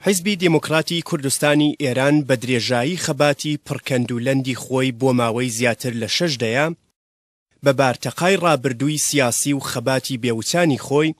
حیزبی دێموکڕاتی کوردستانی ئێران بە درێژایی خەباتی پڕ کەند و لەندی خۆی بۆ ماوەی زیاتر لە شەش دەیە بە بارتەقای ڕابردووی سیاسی و خەباتی بێ وچانی خۆی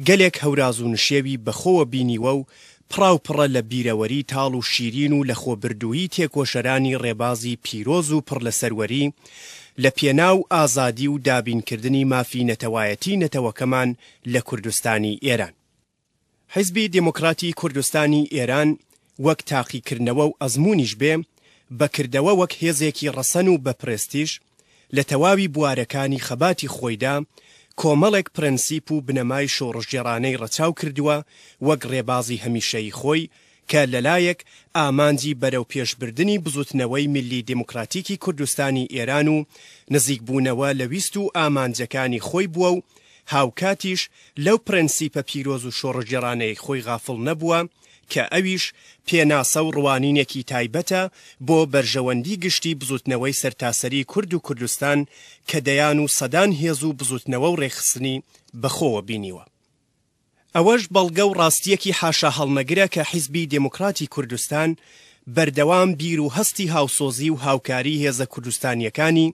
گەلێک هەوراز و نشێوی بە خۆوە بینیوە و پڕاو پڕە لە بیرەوەری تاڵ و شیرین و لە خۆبردوویی تێکۆشەرانی ڕێبازی پیرۆز و پڕ لە سەروەری لە پێناو ئازادی و دابین کردنی مافی نەتەوایەتی نەتەوەکەمان لە کوردستانی ئێران. حیزبی دێمۆکڕاتی کوردستانی ئێران وەک تاقیکردنەوە و ئەزموونیش بێ، بە کردەوە وەک هێزێکی ڕەسەن و بە پرێستیژ، لە تەواوی بوارەکانی خەباتی خۆیدا، کۆمەڵێک پرەنسیپ و بنەمای شۆڕشگێڕانەی ڕەچاو کردووە وەک ڕێبازی هەمیشەیی خۆی کە لەلایەک ئامانجی بەرەوپێشبردنی بزوتنەوەی میللی دێموکراتیکی کوردستانی ئێران و نزیکبوونەوە لە ویست و ئامانجەکانی خۆی بووە و هاوکاتیش لەو پرەنسیپە پیرۆز و شۆڕشگێڕانەی خۆی غافڵ نەبووە کە ئەویش پێناسە و ڕوانینێکی تایبەتە بۆ بەرژەوەندی گشتی بزوتنەوەی سەرتاسەری کورد و کوردستان کە دەیان و سەدان هێز و بزوتنەوە و ڕێکخستنی بەخۆوە بینیوە. ئەوەش بەڵگە و ڕاستییەکی حاشاهەڵنەگرە کە حیزبی دێموکڕاتی کوردستان بەردەوام بیر و هەستی هاوسۆزی و هاوکاری هێزە کوردستانییەکانی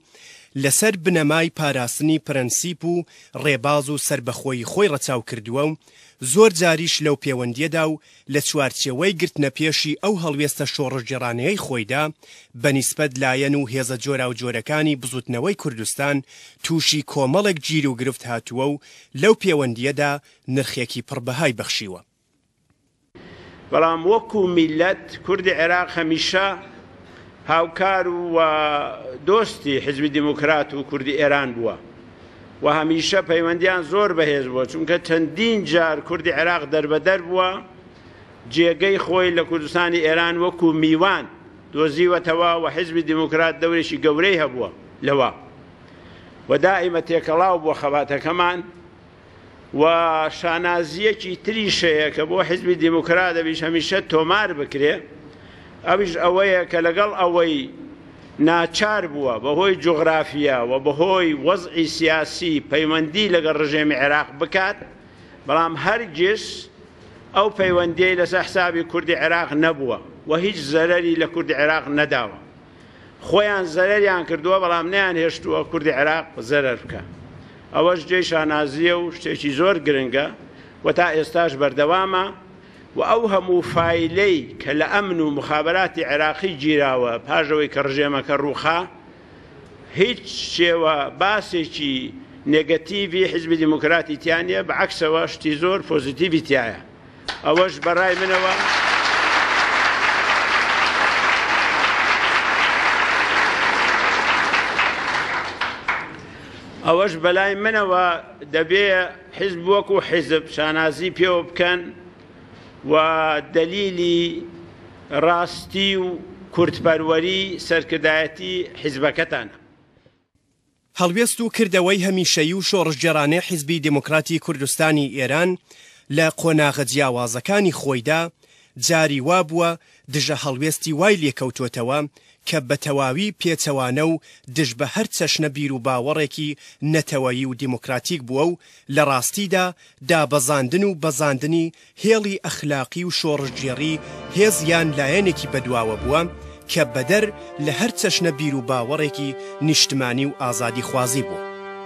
لە سەر بنەمای پاراستنی پرەنسیپ و ڕێباز و سەربەخۆیی خۆی ڕەچاو کردووە و زۆر جاریش لەو پێوەندییەدا و لە چوارچێوەی گرتنەپێشی ئەو هەڵوێستە شۆڕشگێڕانەیەی خۆیدا بە نیسبەت لایەن و هێزە جۆراوجۆرەکانی بزوتنەوەی کوردستان تووشی کۆمەڵێک گیروگرفت هاتووە و لەو پێوەندییەدا نرخێکی پڕ بەهای بەخشیوە. بەڵام وەکوو میللەت کوردی عێراق هەمیشە هاوکار و دۆستی حیزبی دێموکرات و کوردی ئێران بووە. و هەمیشە پەیوەندیان زۆر بەهێز بووە چونکە چەندین جار کوردی عێراق دەربەدەر بووە جێگەی خۆی لە کوردستانی ئێران وەکو میوان دۆزیوەتەوە و حزبی دیموکرات دەورێکی گەورەی هەبووە لەوە و دائیمە تێکەڵاو بووە خەباتەکەمان و شانازییەکی تریش هەیە کە بۆ حیزبی دیموکرات ئەویش هەمیشە تۆمار بکرێ ئەویش ئەوەیە کە لەگەڵ ئەوەی ناچار بووە بەهۆی جوغرافیا و بەهۆی وەزعی سیاسی پەیوەندی لەگەڵ ڕژێمی عێراق بکات بەڵام هەرگیز ئەو پەیوەندیەی لەسەر حسابی کوردی عێراق نەبووە و هیچ زەرەری لە کوردی عێراق نەداوە. خۆیان زەرەریان کردووە بەڵام نەیان هێشتووە کوردی عێراق زەرەر بکە ئەوەش جێی شانازیە و شتێکی زۆر گرنگە و تا ئێستاش بەردەوامە و ئەو هەموو فیلەی کە لە ئەمن و مخابراتی عێراقی گیراوە پاژەوەی کە ڕژێمەکە ڕووخا هیچ شێوە باسێکی نگەتیڤی حزبی دیموکراتی تیانە بە عکسەوە شتی زۆر پۆزیتیڤی تایە ئەوەش بەڕای منەوە ئەوەش بەلای منەوە دەبێ حیزب وەکو حیزب شانازی پێوە بکەن و دەلیلی ڕاستی و کورتپەروەری سەرکردایەتی حیزبەکەتانە هەڵوێست و کردەوەی هەمیشەیی و شۆڕشگێڕانەی حیزبی دێموکراتی کوردستانی ئێران لە قۆناغە جیاوازەکانی خۆیدا جاری وا بووە دژە هەڵوێستی وای لێ کەوتۆتەوە کە بە تەواوی پێچەوانە و دژ بە هەر چەشنە بیروباوەڕێکی نەتەوەیی و دێموکراتیک بووە و لە ڕاستیدا دابەزاندن و بەزاندنی هێڵی ئەخلاقی و شۆڕشگێڕی هێز یان لایەنێکی بەدواوە بووە کە بەدەر لە هەر چەشنە بیروباوەڕێکی نیشتمانی و ئازادیخوازی بووە.